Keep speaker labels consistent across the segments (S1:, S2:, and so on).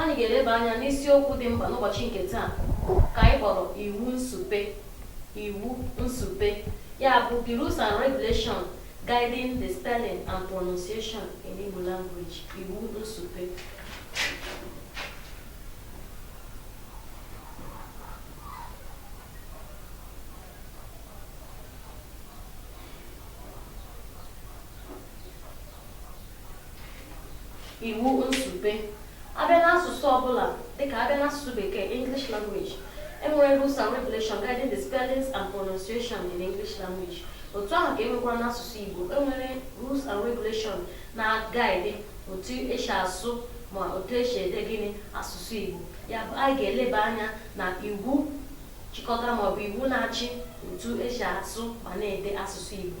S1: Anyị ga-eleba anya n'isiokwu dị mkpa n'ụbọchị nke taa ka anyị kpọrọ iwu nsupe iwu nsupe ya bụ the rules and regulation guiding the spelling and pronunciation in Igbo language iwu nsupe iwu nsupe abịa n'asụsụ ọbụla dịka abịa n'asụsụ bekee English language enwere rules and regulation guiding the spellings and pronunciation in English language otu ahụ ka enwekwara n'asụsụ Igbo enwere rules and regulation na-guide otu esi asụ ma otu esi ede gịnị asụsụ Igbo ya bụ anyị ga-eleba anya na iwu chịkọtara maọbụ iwu na-achị otu esi asụ ma na-ede asụsụ Igbo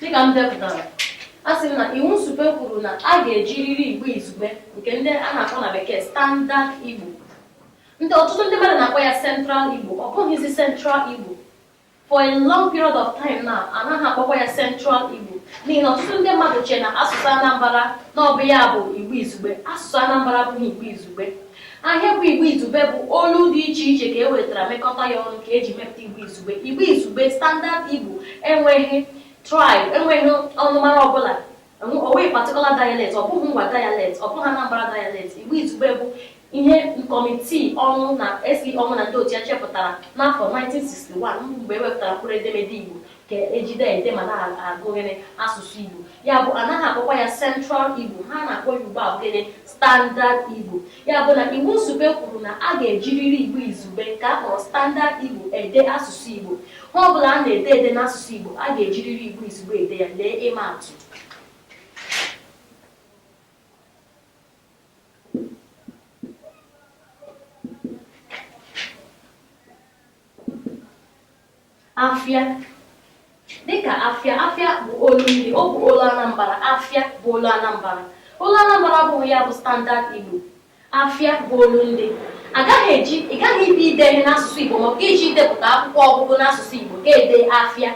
S1: dịka m depụtara a sị m na iwu nsupe kwuru na a ga-ejiriri igbo izugbe nke ndị a na-akpọ na bekee standard igbo ndị ọtụtụ ndị mmadụ na-akpọ ya central igbo ọ bụghịzi central igbo For a long period of time now, a naghị akpọkwa ya Central Igbo n'ihi na ọtụtụ ndị mmadụ chee na asụsụ Anambra na ọ bụ ya bụ Igbo Izugbe. Asụsụ Anambra abụghị Igbo Izugbe. Ihe bụ Igbo Izugbe bụ olu dị iche iche ka e wetara mekọta ya ọnụ ka eji mepụta Igbo Izugbe. Igbo Izugbe, Standard Igbo, enweghị tribe, enweghị ọnụmara ọbụla Enwe- O nweghị particular dialect, ọ bụghị Ngwa dialect, ọ bụghị Anambra dialect. Igbo Izugbe bụ ihe kọmitii Ọnwụ na SE Ọnwụ na ndị otu ya chepụtara n'afọ 1961 mgbe e wepụtara mkpụrụ edemede Igbo ka ejide ede ma na-agụ gịnị asụsụ Igbo. Ya bụ anaghị akpọkwa ya Central Igbo, ihe a na-akpọ ya ugbu a bụ gịnị Standard Igbo. Ya bụ na Iwu Nsupe kwuru na a ga-ejiriri Igbo Izugbe ka a kpọrọ Standard Igbo ede asụsụ Igbo. Ihe ọ bụla a na-ede ede n'asụsụ Igbo, a ga-ejiriri Igbo izugbe ede ya. Lee ịma atụ. Afịa. Dịka afịa, afịa bụ olundị, ọ bụ olu Anambra. Afịa bụ olu Anambra. Olu Anambra abụghị ya bụ standard Igbo. Afịa bụ olundị. A gaghị eji ị gaghị ịbịa ide ihe n'asụsụ Igbo maọbụ gị jee idepụta akwụkwọ ọgụgụ n'asụsụ Igbo gị edee afịa.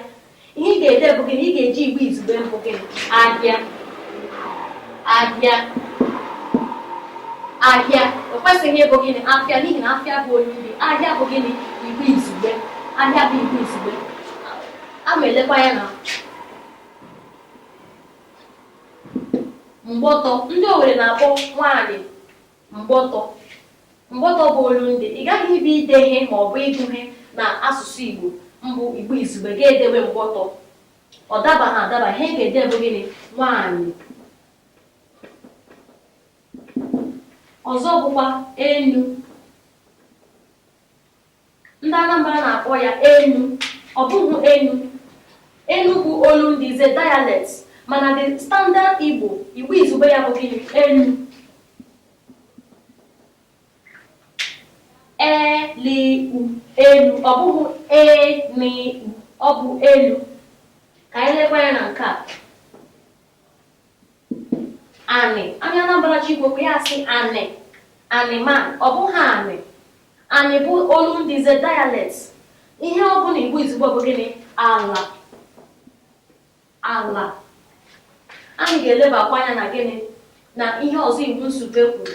S1: Ihe ị ga-ede bụ gịnị? Ị ga-eji Igbo izugbe bụ gịnị? Ahịa. Ahịa. Ahịa. O kwesịghị ịbụ gịnị? Afịa n'ihi na afịa bụ olundị. Ahịa bụ gịnị? Igbo izugbe. Ahịa bụ Igbo izugbe. A ma elekwa ya na Mgbọtọ, Ndị Owere na-akpọ nwaanyị mgbọtọ. Mgbọtọ bụ olundị. Ị gaghị ibe ide ihe ma ọ bụ ịgụ ihe na asụsụ Igbo mbụ Igbo Izugbe gị edewe mgbọtọ. Ọ dabaghị adaba. Ihe ị ga-ede bụ gịnị? Nwaanyị. Ọzọ bụkwa enu. Ndị Anambra na-akpọ ya Enu, ọ bụghị Enu. Enu bụ olundị, is a dialect, mana the standard Igbo, Igbo izugbe ya bụ gịnị? Elu. E-L-U, elu, ọ bụghị E-N-U, ọ bụ elu. Ka anyị lekwa ya na nke a. Anị, onye Anambra ji Igbo ya asị anị, anị ma ọ bụghị anị. Anị bụ olundị, is a dialect. Ihe ọ bụ na Igbo izugbe bụ gịnị? Ala. Ala. Anyị ga-elebakwa anya na gịnị na ihe ọzọ iwu nsupe kwuru.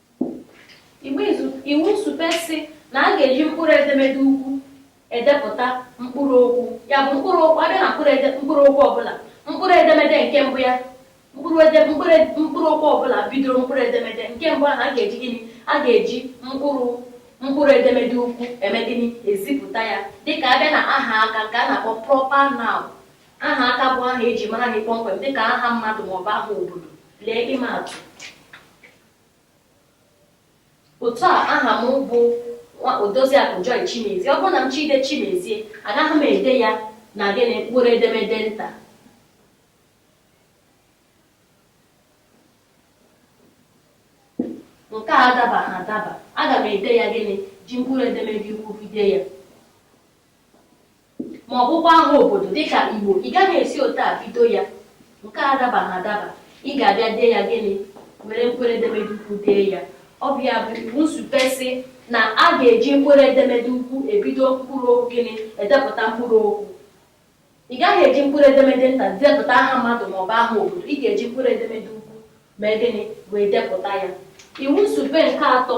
S1: iwu nsupe sị na a ga-eji mkpụrụ edemede ukwu edepụta mkpụrụ okwu ya bụ mkpụrụ okwu a bịa na mkpụrụ okwu ọbụla mkpụrụ edemede nke mbụ ya mkpụrụ okwu ọbụla bidoro mkpụrụ edemede nke mbụ ahụ a ga-eji gịnị a ga-eji mkpụrụ mkpụrụ edemede ukwu eme gịnị ezipụta ya dịka a bịa na aha aka nke a na-akpọ proper noun aha aka bụ aha eji mara gị kpọmkwem dịka aha mmadụ maọbụ aha obodo lee ịma atụ Otu a, aha m bụ Odoziakụ Joy Chimezie. Ọ bụrụ na m chọọ ide Chimezie, agaghị m ede ya na gịnị mkpụrụ edemede nta. Nke a adabaghị adaba. Aga m ede ya gịnị ji mkpụrụ edemede ukwu bido ya. ma ọ bụkwa aha obodo dịka Igbo, ị gaghị esi otu a bido ya, nke a adabaghị adaba, ị ga-abịa dee ya gịnị? Were mkpụrụedemede ukwu dee ya. Ọ bụ ya bụ iwu nsupe sị na a ga-eji mkpụrụedemede ukwu ebido mkpụrụokwu gịnị? Edepụta mkpụrụokwu. Ị gaghị eji mkpụrụedemede nta depụta aha mmadụ maọbụ aha obodo, ị ga-eji mkpụrụedemede ukwu mee gịnị? Wee depụta ya. Iwu nsupe nke atọ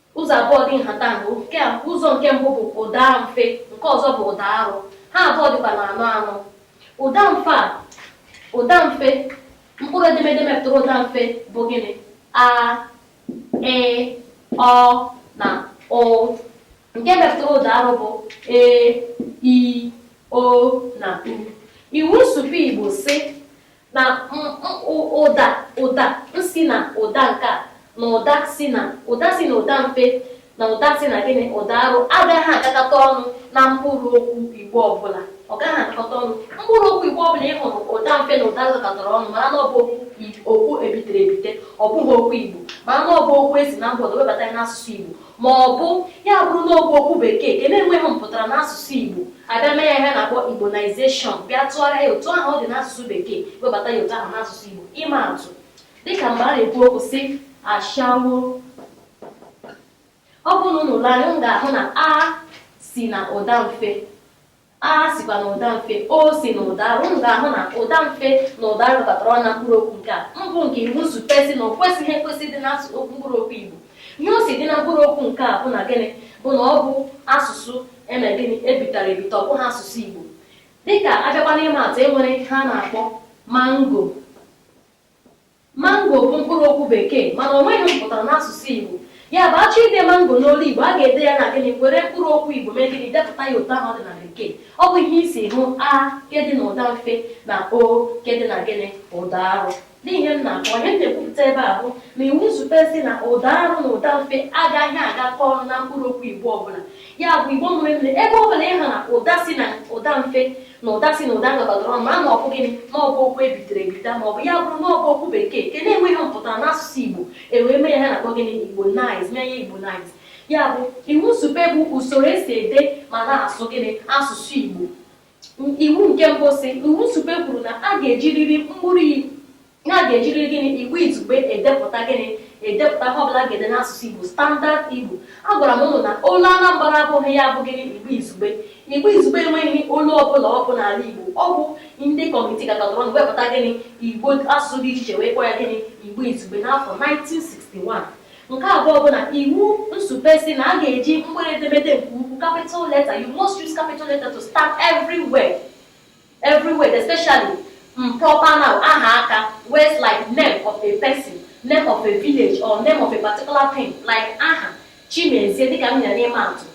S1: Ụzọ abụọ dị nhatanha, ụzọ nke mbụ bụ ụda mfe, nke ọzọ bụ ụda arụ, ha abụọ dịkwa n'anọ anọ. Ụda mfe a, ụda mfe, mkpụrụ edemede mepụtara ụda mfe bụ gịnị? A, Ị, Ọ na Ụ. Nke mepụtara ụda arụ bụ E, I, O na U. Iwu nsụpe Igbo sị na ụda ụda si na ụda nke a na ụda si na ụda si na ụda mfe na ụda si na gịnị ụda arụ agaghị agakọta ọnụ na mkpụrụ okwu Igbo ọbụla ọ gaghị agakọta ọnụ mkpụrụ okwu Igbo ọbụla ị hụrụ ụda mfe na ụda arụ gakọtara ọnụ mara na ọ bụ okwu ebitere ebite ọ bụghị okwu Igbo mara na ọ bụ okwu e si na mba ọdọ webata n'asụsụ Igbo Ma ọ bụ ya bụrụ na ọ bụ okwu Bekee nke na-enweghị mpụtara n'asụsụ Igbo, a bịa mee ya ihe a na-akpọ Igbonization, bịa tụgharịa ya otu ahụ ọ dị n'asụsụ Bekee, webata ya otu ahụ n'asụsụ Igbo. Ịma atụ, dị ka mgbe a na-ekwu okwu sị ashawo. Ọ bụrụ na unu lee anya, unu ga-ahụ na a si na ụda mfe A sikwa na ụda mfe o si na ụda arụ. Unu ga-ahụ na ụda mfe na ụda arụ batara ọnụ na mkpụrụ okwu nke a. Mbụ nke iwu nsupe sị na o kwesịghị ekwesị ịdị n'asụsụ okwu mkpụrụ okwu Igbo. Ihe o si dị na mkpụrụ okwu nke a bụ na gịnị bụ na ọ bụ asụsụ eme gịnị ebitara ebita ọ bụghị asụsụ Igbo. Dịka a bịakwa n'ịma atụ e nwere ihe a na-akpọ mango. Mango bụ mkpụrụ okwu Bekee mana o nweghị mpụtara n'asụsụ Igbo. Ya bụ, a chọọ ide mango n'olu Igbo, a ga-ede ya na gịnị? Were mkpụrụ okwu Igbo mee gịnị? Depụta ya otu ahụ ọ dị na Bekee. Ọ bụ ihe i si hụ a nke dị n'ụda mfe na o nke dị na gịnị? Ụda arụ. Lee ihe m na-akọwa. Ihe m na-ekwupụta ebe a bụ na iwu nsupe sị na ụda arụ na ụda mfe agaghị agakọ ọnụ na mkpụrụ okwu Igbo ọbụla. ya bụ igbo mụrụ nze ebe ọ bụla ị hụ na ụda si na ụda mfe na ụda si na ụda gakọtara ọnụ ma na ọ bụ gịnị na ọ bụ okwu ebitere ebita ma ọ bụ ya bụrụ na ọ bụ okwu bekee nke na-enweghị mpụtara n'asụsụ igbo e wee mee ya ihe a na-akpọ gịnị Igbonize mee ya Igbonize ya bụ iwu nsupe bụ usoro e si ede ma na-asụ gịnị asụsụ igbo iwu nke mbụ sị iwu nsupe kwuru na a ga-ejiriri mkpụrụ Ihe a ga-ejiriri gịnị Igbo Izugbe edepụta gịnị edepụta ihe ọbụla a ga-ede n'asụsụ Igbo standard Igbo. Agwara m ụnụ na olu Anambra abụghị ya bụ gịnị Igbo Izugbe. Igbo Izugbe enweghị olu ọbụla ọ bụ n'ala Igbo. Ọ bụ ndị kọmitii gakọtara ọnụ wepụta gịnị Igbo asụsụ dị iche iche wee kpọọ ya gịnị Igbo Izugbe n'afọ 1961. Nke abụọ bụ na iwu nsupe sị na a ga-eji mkpụrụ edemede nke ukwu capital letter you must use capital letter to start everywhere. Everywhere, especially um, proper noun, aha aka, words like name of a person, name of a village or name of a particular thing like aha, Chimezie dịka m nyere ịma atụ.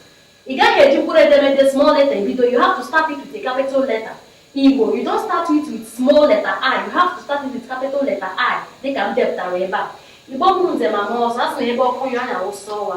S1: Ị gaghị eji mkpụrụ edemede small letter ebido, you have to start it with a capital letter. Igbo, you don't start it with small letter I, you have to start it with capital letter I dịka m depụtara ebe a. Igbo mụrụ nze ma mụọ ọzọ, a sị na ebe ọkụ nyụrụ a wụsa ọwa.